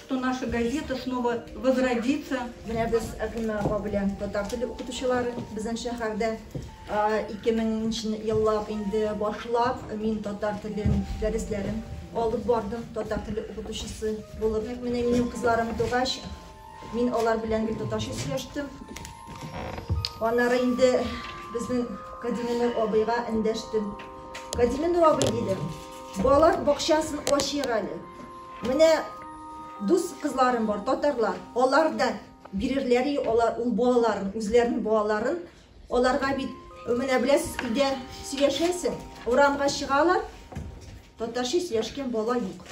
Что наша газета снова возродится. Менә без Әкрем апа белән татар теле укытучылары безнең шәһәрдә 2000 нче еллап инде башлап мин татар телен дәресләрен алып бардым, татар теле укытучысы булып. Менә минем кызларым тугач, мин алар белән бит татарча сөйләштем. Аннары инде безнең Кадиминур абыйга эндәштем. Кадиминур абый дидем, балалар бакчасын ачыйк әле. Менә дус кызларым бар, татарлар. Алар да бирерләр и алар ул балаларын, үзләрен балаларын. Аларга бит менә беләсез, өйдә сөйләшәсең, урамга чыгалар. Татарча сөйләшкән бала юк.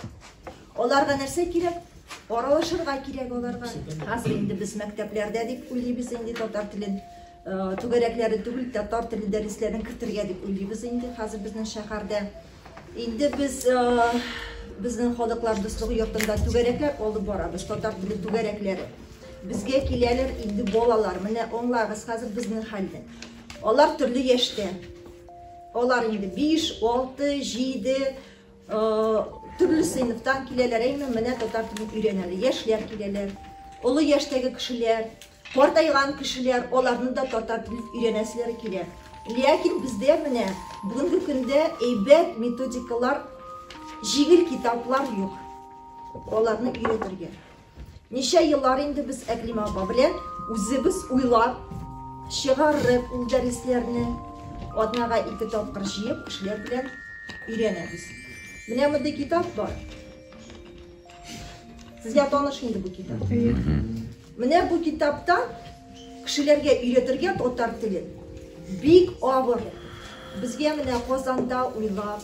Аларга нәрсә кирәк? Аралашырга кирәк аларга. Хәзер инде без мәктәпләрдә дип уйлыйбыз инде татар телен. Түгәрәкләре түгел, татар теле дәресләрен кертергә дип уйлыйбыз инде хәзер безнең шәһәрдә. Инде без безнең халыклар дуслыгы йортында түгәрәкләр алып барабыз, татар теле түгәрәкләре. Безгә киләләр инде балалар, менә аңлагыз хәзер безнең хәлне. Алар төрле яшьтә. Алар инде 5, 6, 7, Төрле сыйныфтан киләләр, әйме, менә татар телен өйрәнәләр. Яшьләр киләләр, олы яшьтәге кешеләр, картайган кешеләр, аларны да татар телен өйрәнәселәре килә. Ләкин бездә менә бүгенге көндә әйбәт методикалар, җиңел китаплар юк аларны өйрәтергә. Ничә еллар инде без Әклимә апа белән үзебез уйлап чыгарып ул дәресләрне атнага ике тапкыр җыеп кешеләр белән өйрәнәбез. Менә мондый китап бар. Сезгә таныш инде бу китап. Менә бу китапта кешеләргә өйрәтергә татар телен бик авыр. Безгә менә Казанда уйлап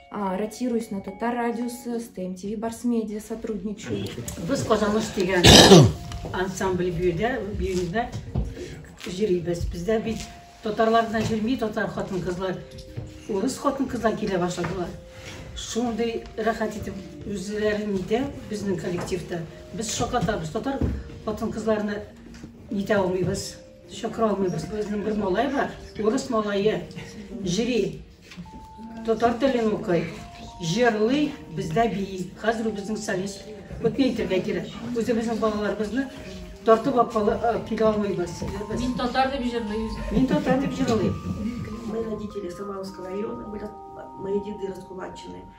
А, ротируюсь на Татар радиосы, с ТМТВ Барс Медиа сотрудничаю. Без Казаныш дигән ансамбль биюдә, биюдә җирибез. Бездә бит татарлар гына җирми, татар хатын-кызлар, урыс хатын-кызлар килә башладылар. Шундый рәхәт итеп үзләрен нитә безнең коллективта. Без шакатабыз, татар хатын-кызларны нитә алмыйбыз, чакыра алмыйбыз. Безнең бер малай бар, урыс малае, җири. Татар телен укый, җырлый, бездә бии. Хәзер ул безнең солист. Вот не әйтергә кирәк. Үзебезнең балаларыбызны тартып апалы килә алмыйбыз. Мин татар дип җырлый. Мин татар дип җырлый. Мы родители Самаровского района, были мои деды раскулачены.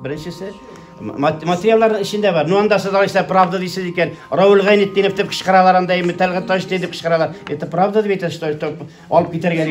Беренчесе материалларның эчендә бар. Ну анда сез алайса правда дисез икән. Раул Гайнетдинов дип кычкыралар анда, Имтәлгә таш дип кычкыралар. Это правда дип әйтәсез, алып китәргә дип.